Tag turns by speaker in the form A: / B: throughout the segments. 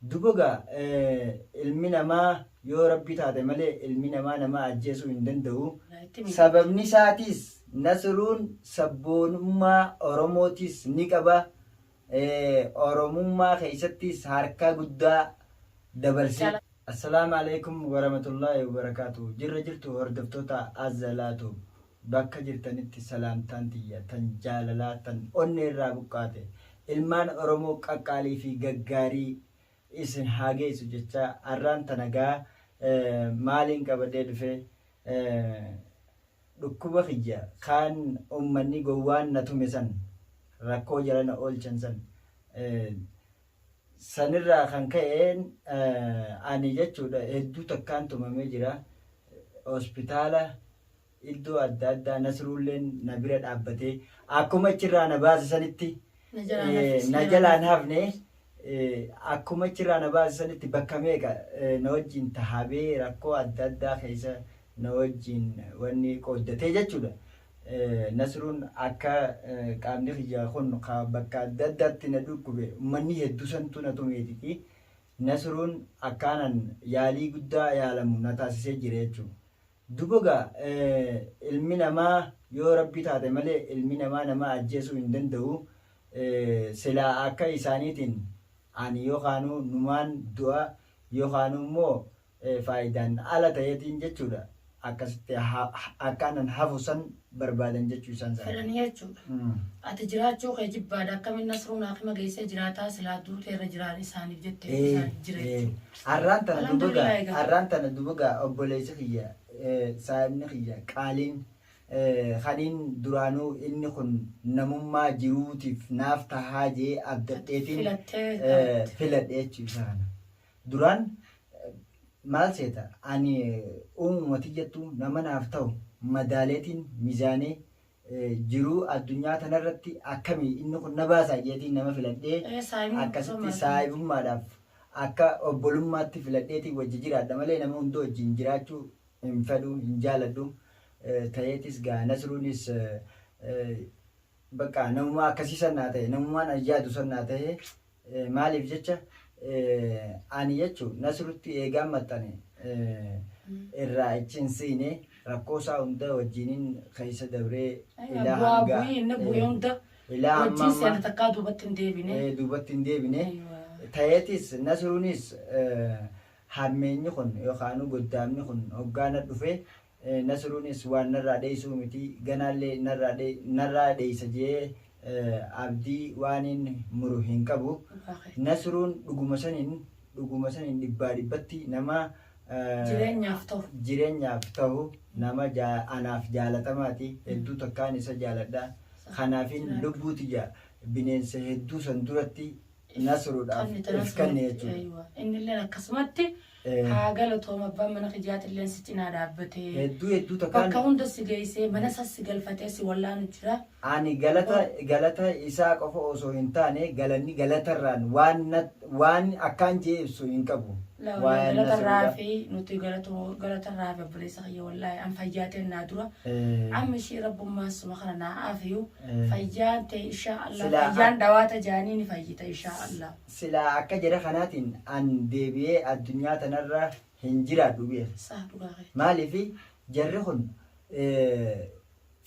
A: Duba gaa ilmi namaa yoo rabbi taate malee ilmi namaa nama ajjeesuu hin danda'u. Sababni isaatiis Nasruun sabboonummaa Oromootiis ni qaba. Oromummaa keessattiis harka guddaa dabarse. Assalaamu Aleykum Waramatullahi Wabarakaatuh Jirra jirtu hordoftoota Azzalaa Tube Bakka jirtanitti salaamtaan tiyya tan jaalalaa tan onnee irraa buqqaate ilmaan Oromoo qaqqaalii fi gaggaarii isin haa geessu jechaa arraan tana egaa maaliin qabadhee dhufe dhukkuba kiyya kaan ummanni gowwaan na tume san rakkoo jala na oolchan san Sanirraa kan ka'een ani jechuudha hedduu takkaan tumamee jira. Hospitaala iddoo adda addaa Nasruulleen na bira dhaabbatee akkuma achirraa na baase sanitti na jalaan hafne akkuma achirraa na baase sanitti bakka meeqa na wajjin tahabee rakkoo adda addaa keessa na wajjin wanni qooddatee jechuudha. Nasruun akka qaamni kiyya kun bakka adda addaatti na dhukkube ummanni heddu santu na tumeetiti Nasruun akkaanan yaalii guddaa yaalamu na taasisee jira jechuun. Duboga ilmi namaa yoo rabbi taate malee ilmi namaa nama ajjeesuu hin danda'u silaa akka isaaniitiin ani yookaanuu numaan du'a yookaanuu immoo faayidaan ala ta'eetiin jechuudha. Akkasitti akka anan hafu san barbaadan jechuu isaan sana. Fedhanii jechuudha.
B: Ati jiraachuu kee jibbaadha akkamiin Nasruun haakima geessee jiraataa silaa duutee irra jiraan isaaniif jettee isaaniif jira jechuudha. Arraan tana dubaga arraan tana
A: dubaga obboleessi kiyya saahibni kiyya qaaliin kaniin duraanuu inni kun namummaa jiruutiif naaf tahaa jee abdadheetiin filadhee jechuudha. Duraan maal seeta ani uumuma tiyyattu nama naaf tahu madaaleetiin, mizaanee, jiruu addunyaa tanarratti akkami inni kun na baasaa jeetiin nama filadhee Ee, saahibummaa akkasitti osoo maal- saahibummaadhaaf akka obbolummaatti filadheetiin wajji jiraadha malee nama hunda wajjin jiraachuu hin fedhu, hin jaaladhu. Eh, Taheetis gaa Nasruunis eh, eh, Baqqaa namumaa akkasii san naa ta'e namumaan an yaadu san naa ta'e maaliif jecha ani jechu nasrutti eegaan maxxane irraa ichi hin siine rakkoo isaa hunda wajjiinin keessa dabree ilaa bu'aa hanga bu'ii inni bu'e hunda ilaa amma wajjin amma seena takkaa duubatti hin deebine. eh, duubatti hin deebine Aywa. ta'eetis nasruunis eh, hammeenyi kun yookaan goddaamni kun hoggaana dhufe Nasiruunis waan narraa dheeysuu miti, ganaallee narraa dheeysa je'ee Abdii waaniin muru hin qabu. Nasiruun dhuguma saniin dhuguma saniin dhibbaa dhibbatti nama jireenyaaf tahu, nama anaaf jaalatamaati, hedduu takkaan isa jaaladha. Kanaafiin lubbuu tiyya bineensa hedduu san duratti Nasruudhaaf Kan itti if kanne nasruutti, jechuudha. aywa. Innilleen akkasumatti
B: Eh. haa galatooma abbaan mana kijaatilleen si cinaa dhaabbatee Hedduu hedduu bakka
A: takkaan hunda si geessee
B: mana isaa si galfatee si wallaanu jira. ani galata
A: galata isaa qofa osoo hin taane galanni galatarraan waan nat- waan akkaan jee ibsu hin qabu. Laawwan Waa'een galatarraa
B: Nasruudhaa. fi nuti galatoo- galatarraa fi obboleessa kiyya wallaahi an fayyaateen naa dura. Eh. Amma ishii rabbummaan suma kana naa aafiyu. Fayyaan tee inshaa Allah. Silaa ak- Fayyaan dhawaata jaanii ni fayyita inshaa Allah. Silaa akka jedha
A: kanaatiin an deebi'ee addunyaa tanarra hin jiraadhu bi'e. Saa dhugaa kee. Maaliif jarri kun eh,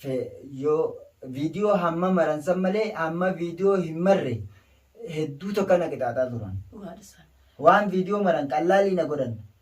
A: fe- yoo viidiyoo hamma maransan malee hamma viidiyoo hin marre hedduu tokko na qixaaxaa turan. Dhugaadha isaan. Waan viidiyoo maran qallaalii na godhan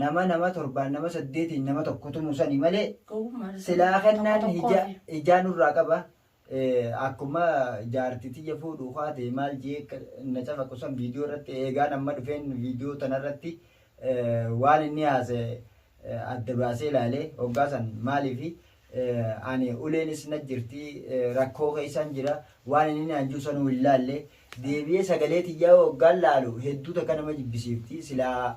A: Nama nama torbaan nama saddeetiin nama tokko tumu sani malee silaa kennaan hijaa nurraa qaba akkuma jaarti tiyya fuudhu kaate maal jee na cafaqu san viidiyoo irratti eegaan amma dhufeen viidiyoo tana irratti waan inni haase adda baasee laale hoggaa san maaliif ani uleenis na jirti rakkoo keessaan jira waan inni naan jiru sanuu hin laalle deebi'ee sagalee tiyyaa hoggaan laalu hedduu takka nama jibbisiifti silaa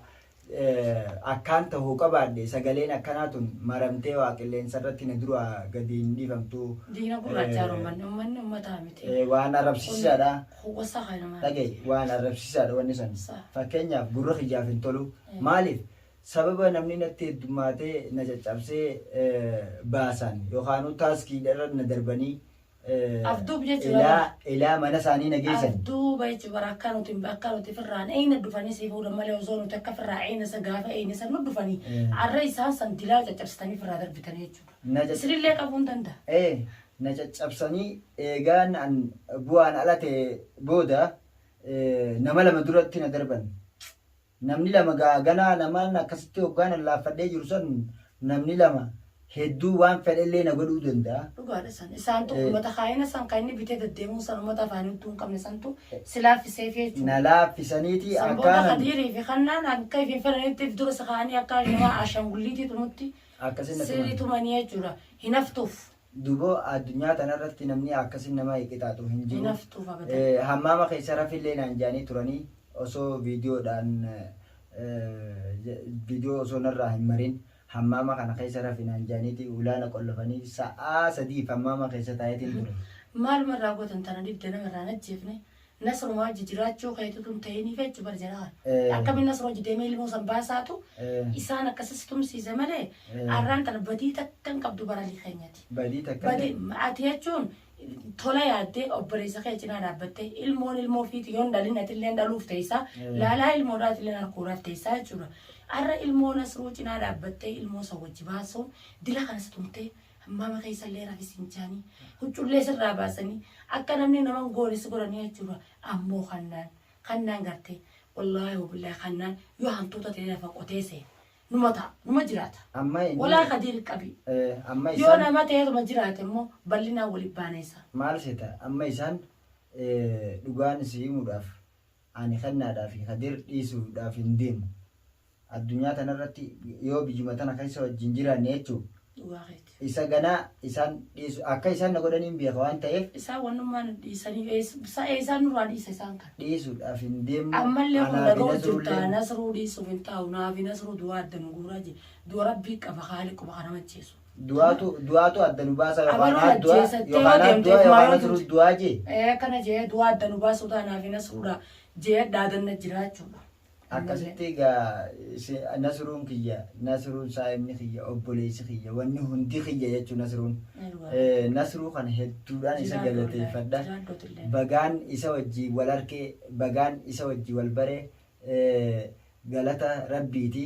A: akkaan tahuu qabaadhe sagaleen akkanaa tun maramtee waa qilleensa irratti na duraa gadi hin dhiifamtu. Diina gurraachaa
B: romanni ummanni ummataa miti. Waan arrabsiisaadha.
A: Huwwasa kana maal?
B: Dhaga'i waan
A: arrabsiisaadha wanni san. Fakkeenyaaf gurra kiyyaaf hin tolu. Maaliif? Sababa namni natti heddummaatee na caccabsee baasan yookaanuu taaskiidha irra na darbanii Afduub
B: jechuudha. Ilaa ilaa mana isaanii
A: na geessan. Afduuba jechuudha bara
B: akka nuti akka nuti firraan eeyna dhufanii si fuudhan malee osoo nuti akka firraa eeyna isa gaafa eeyna isa nu dhufanii arra isaan san dilaa caccabsitanii firraa darbitanii jechuudha. Na cacc- Isinillee qabuu hin danda'a. Ee na caccabsanii
A: eegaan an bu'aan ala ta'e booda ee, nama lama duratti na darban. Namni lama gaa ganaa naman akkasitti hoggaan allaaffadhee jiru san namni lama hedduu waan fedhellee na godhuu danda'a. Dhugaadha san. Isaantu
B: Ee. ummata kaayina san kan inni bitee deddeemuun san ummata afaanii hudduu hin qabne santu si laaffiseefi jechuudha. Na laaffisaniiti
A: San booda akkaanan Kadiirii
B: fi Kannaan akka ifiin fedhanitti if dura si kaa'anii akka shamaa Ashaangulliitiitu nutti akkasina sirii tuman. tumanii jechuudha. Hin haftuuf. Dubo
A: addunyaa tana irratti namni akkasin nama hiqixaaxu hin jiru. Hinaftuu fakatan.
B: Hammaama keessa rafillee
A: naan jaanii turanii osoo viidiyoodhaan viidiyoo osoo narraa hin marin hammaama kana keessa rafi naan jaaniiti ulaa na qollofanii sa'aa sadiif hammaama keessa taayeetiin ture. Maaluma irraa gootan
B: tana dhibde nama irraa hin ajjeefne Nasru Haji jiraachuu keetutu hin ta'inii feechu bar jedhaan. Eh. Akkamiin Nasru Haji deemee ilmoo san baasaatu Eh. isaan akkasas tumsiise malee Eh. arraan tana badii takka hin qabdu bara keenyati. Badii takka Badii illee.
A: ati jechuun
B: tola yaaddee obboleessa kee cinaa dhaabbattee ilmoon ilmoo fiiti yoon dhalin atilleen dhaluuf teessaa Eh. laalaa ilmoodhaa atilleen harkuudhaaf teessaa jechuudha. Arra ilmoo Nasruu cinaa dhaabbattee ilmoo san wajji baasuun dila kanas tumtee Hammaama keessallee rafi sin jaanii, huccullee sirraa baasanii, akka namni nama hin goone si godhanii jechuudha. Ammoo kannaan, kannaan gartee, wallaahi wabillaahi kannaan yoo hantuuta ta'ee lafa qotee seene, numa ta'a, numa jiraata. Amma inni- Walaa kadiir qabi. Eh, amma Yoo isaan nama ta'eetuma jiraate immoo bal'inaan waliin baana isaa. maal seeta amma
A: isaan eh, dhugaan si himuudhaaf Ani kennaadhaa fi Kadir dhiisuudhaaf hin deemu. Addunyaa tana irratti yoo biyyuma tana keessa wajjin jiraanne jechuun Dhugaa keeti. isa ganaa isaan dhiisu akka isaan na godhanii hin beeka waan ta'eef Isaan wannummaa nu
B: dhiisanii ees- sa- eessaan nurraa dhiisa isaan kana. dhiisuudhaaf hin deemu.
A: Ammallee kun Anaa fi dhaga'u jirta
B: Nasruulleen nasruu dhiisuuf hin taa'u naafi nasruu du'a adda nu guuraa jira. Du'a rabbii qaba haali quba kana macheessu. Du'aatu du'aatu
A: adda nu baasa yookaan Abaluun haa du'a ajjeesa, itti yoo yookaan haa deemte du'a kumaa yookaan yoo asiruu duute. du'aa jee. Ee akkana jee du'aa
B: adda nu baasuu taanaaf hin asruudha jee dhaadanna jiraachuudha. Akkasitti
A: egaa si- nasiruun kiyya nasiruun saa'imni kiyya obboleessi kiyya wanni hundi kiyya jechuun nasiruun. Eh, Nasiruu kana hedduudhaan isa galateeffadha. Bagaan isa wajjii wal harkee bagaan isa wajjii wal baree eh, galata rabbiiti.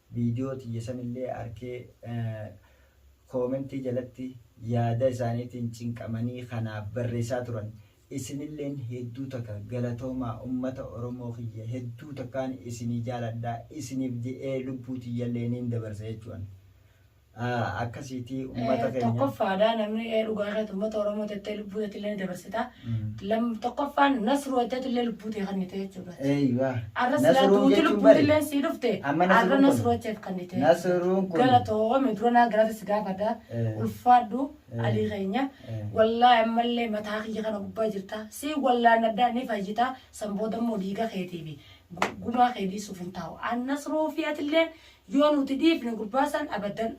A: video tiyya sanillee arkee comment jalatti yaada isaaniitiin cinqamanii ka naaf barreessaa turan isinilleen hedduu takka galatoomaa ummata oromoo kiyya hedduu takkaan isinii jaaladha isiniif je'ee lubbuu tiyyallee niin dabarsa jechu'an akkasiitii ummata keenya. Tokkoffaadha namni
B: dhugaa keetu ummata Oromoo tettee lubbuu teetillee ni dabarsita. Tokkoffaan nasruu hojjetillee lubbuu tee kannite jechuudha. Eeyyuwa. Arra silaa duuti lubbuu tilleen sii dhufte arra nasruu hojjeef kannite. Nasruun kun. Gara
A: to'oome dura naa garaata
B: si gaafadha. Ulfaadhu alii keenya. Wallaahi ammallee mataa kiyya kana gubbaa jirta. Si wallaannadhaa ni fayyita. San booda immoo dhiiga keetiifi gumaa kee dhiisuuf hin taa'u. An nasruu fi atilleen Yoo nuti dhiifne gurbaa san abaddan.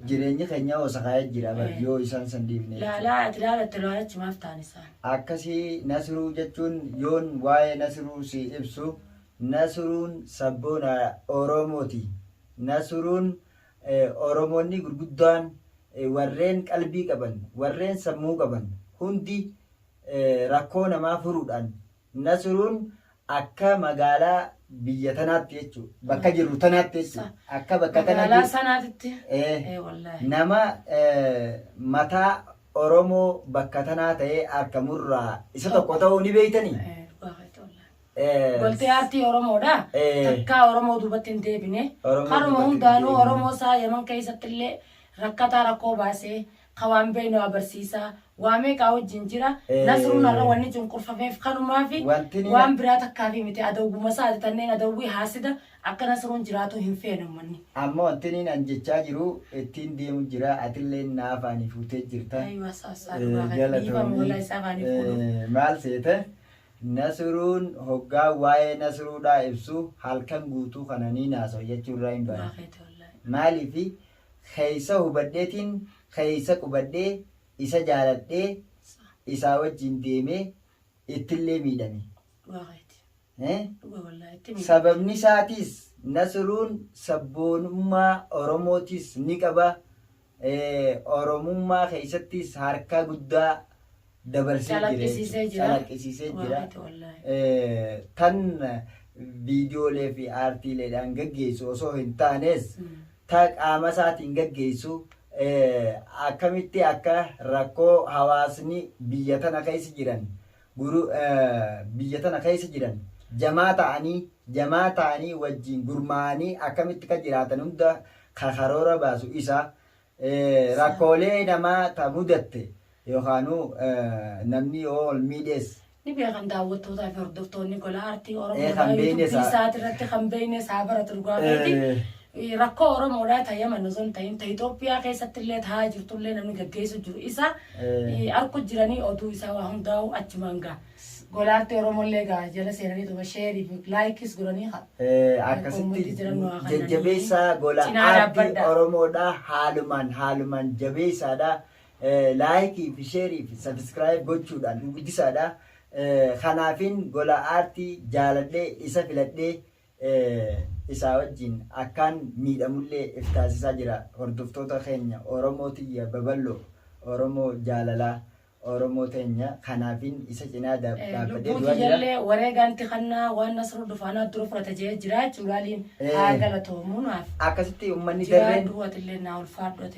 B: Jireenyi
A: keenya hoosakaaya jira bar yoo isaan san dhiifne. Laalaa ati laalatte laalachi
B: maaf ta'an isaan. Akkasii
A: Nasiruu jechuun yoon waa'ee Nasiruu si ibsu Nasiruun sabboona Oromooti. Nasiruun Oromoonni gurguddaan warreen qalbii qaban, warreen sammuu qaban hundi rakkoo namaa furuudhaan Nasruun akka magaalaa biyya tanaatti jechu bakka jirru tanaatti jechu akka bakka tana Magaalaa jiru sanaatitti. ee
B: Ee
A: wallaahi. nama ee, mataa Oromoo bakka tanaa ta'ee arkamurraa isa tokko ta'uu ni beeytanii? Ee, dhugaa keeti wallaahi. Ee,
B: Goltee aartii Oromoodha. Ee. Takkaa Oromoo duubatti hin deebine. Oromoo Karuma duubatti hin hundaanuu deebine. Oromoo isaa Yaman keessatti illee rakkataa rakkoo baasee ka waan beeynu agarsiisa. Waa meeqaa wajjin jira. Nasruun har'a Ee. wanni cunqurfameef kanumaafi. Wanti ni- Waan biraa takkaafii miti. Adawwuma isaati tanneen adawwii haasida akka Nasruun jiraatu hin feene ummanni. Amma wanti niin an
A: jechaa jiru ittiin deemu jira atilleen na afaanii fuutee jirta. Ayyuwa saa saa Eh, dhugaa keeti. Dhiifama galatoomii. wallahi isaa afaanii fuudhuuf. Eh, maal seete nasruun hoggaa waa'ee nasruudhaa ibsu halkan guutuu kana niin haasawa jechuurraa hin Dhugaa baane keeti wallahi. maaliifi keessa hubadheetiin keessa qubadhee isa jaaladhee isaa wajjiin deemee ittillee miidhame. Dhugaa keeti. Eh? Dhugaa wallaahi itti miidhamte. Sababni isaatiis Nasruun sabboonummaa Oromootiis ni qaba. Eh, Oromummaa keessattis harka guddaa dabarsee jira jechuudha. Calaqqisiisee jira. Calaqqisiisee Dhugaa jira. keeti wallaahi. Eh, tan viidiyoolee fi aartiileedhaan gaggeessu osoo hin taanes Mm. ta qaamasaatiin gaggeessu akkamitti akka rakkoo hawaasni biyya tana keessa jiran biyya tana keessa jiran jamaa ta'anii jamaa ta'anii wajjiin gurmaa'anii akkamitti ka jiraatan hunda ka karoora baasu isa rakkoolee namaa ta mudatte yookaanuu namni yoo wal miidhees Ni beekan
B: daawwattootaa fi hordoftoonni gola aartii Oromoo kan beeynes haa- isaati irratti kan beeynes haa baratu dhugaa keeti. Eh. Rakkoo Oromoodhaa ta Yaman osoo hin ta'in ta Itoophiyaa keessatti illee taa'aa jirtu illee namni gaggeessu jiru isa Eh. arku jiranii oduu isaa waa hundaa'u achumaan gaa. Gola aartii Oromoo illee gaa jala seenanii tuma sheerii fi laayikis godhanii haa. Eh, akkasitti
A: Akkuma jiran waa kananii jajjabeessaa gola cinaa aartii dhaabbadha. Oromoodha haalumaan haalumaan jabeessaadha Like fi share fi subscribe gochuudhaan nu guddisaadha. Kanaafin gola aartii jaaladhee isa filadhee isaa wajjin akkaan miidhamullee if taasisaa jira. Hordoftoota keenya Oromoo tiyya baballoo, Oromoo jaalalaa, Oromoo teenya kanaafin isa cinaa dhaabbadhee Lubbuu du'aa jira. tiyyallee
B: wareegaan itti kannaa waan Nasruu Dufaanaa dura fudhata je'ee jiraachuu laaliin haa galatoomu naaf akkasitti ummanni
A: darreen jiraadhu atillee naa ulfaadhu
B: ati.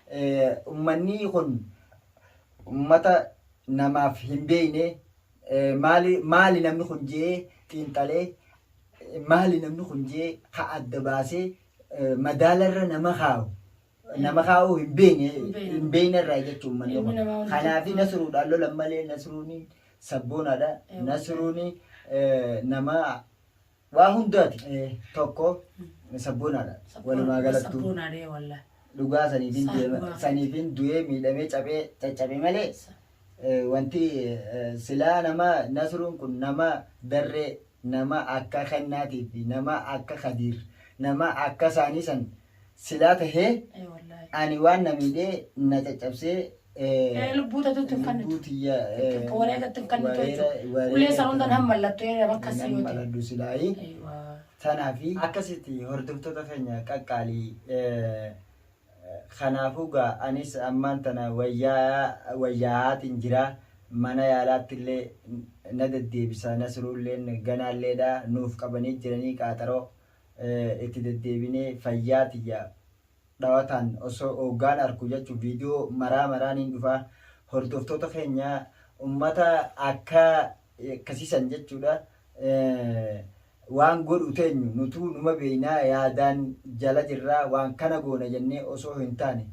A: Ummannii kun ummata namaaf hin beeyne maali maali namni kun je'ee xiinxalee maali namni kun je'ee ka adda baasee madaalarra nama kaawu nama kaawuu hin beeyne Hin beeyne. hin beeynerraa jechu ummanni Ilmi kun namaa hundi kanaafi tokko. nasruudhaan lolan malee nasruuni sabboonaadha Eh, nasruuni eh, nama Waa hundaati tokko sabboonaadha walumaa galattuu. Sabboonaadha wallah. Dhugaa saniifin deema saniifin du'ee miidhamee caphee caccabe malee wanti silaa nama nasruun kun nama darree nama akka kennaatii fi nama akka kadiir nama akka isaanii san silaa tahee Ee wallaahi. ani waan na miidhee na caccabsee eh, Ee lubbuu
B: tatuutti hin kannitu. lubbuu tiyya eh, Takka wareegatti hin kannitu wareera- jechuudha. wareera Ulee san hundan itti- han mallattoo ee bakka nan siyooti. maladhu silaayi
A: Eewwa. tanaafi akkasitti hordoftoota keenya qaqqaalii eh, kanaafuu gaa anis ammaan tana wayyaa wayyaa'aatiin jira mana yaalaatti illee na deddeebisa nasruulleen ganaalleedha nuuf qabanii jiranii qaaxaroo itti deddeebinee fayyaa tiyya dhawataan osoo ooggaan arku jachu video maraa maraa niin dhufa hordoftoota keenya ummata akka akkasiisan jechuudha waan godhu teenyu nutuu numa beeynaa yaadaan jala jirraa waan kana goona jennee osoo hin taane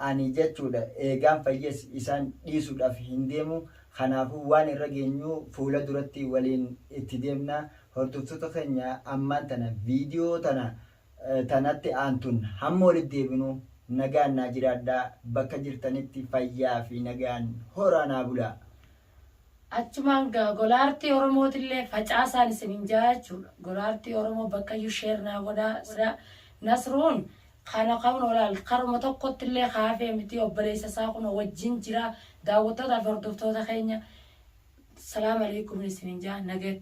A: Ani jechuudha eegaan fayyes isaan dhiisudhaf hin deemu kanaafu waan irra geenyu fuula duratti waliin itti deemna hordoftoota keenya ammaan tana video tana ta natti aantun hamma walitti deebinu nagaan naa jiraadhaa bakka jirtanitti fayyaa fi nagaan horaa naa bulaa
B: Achumaan gaa gola artii oromootillee facaasaan isinin jaa jechuudha gola artii oromoo bakkayyuu share naa godhaa sila nasruun kana kaunoo laal karuma tokkottillee ka hafee mitii obboleessa isaa kunoo wajjin jira daawwattootaa fi hordoftoota keenya salaam aleykumin isinin jaa nagaya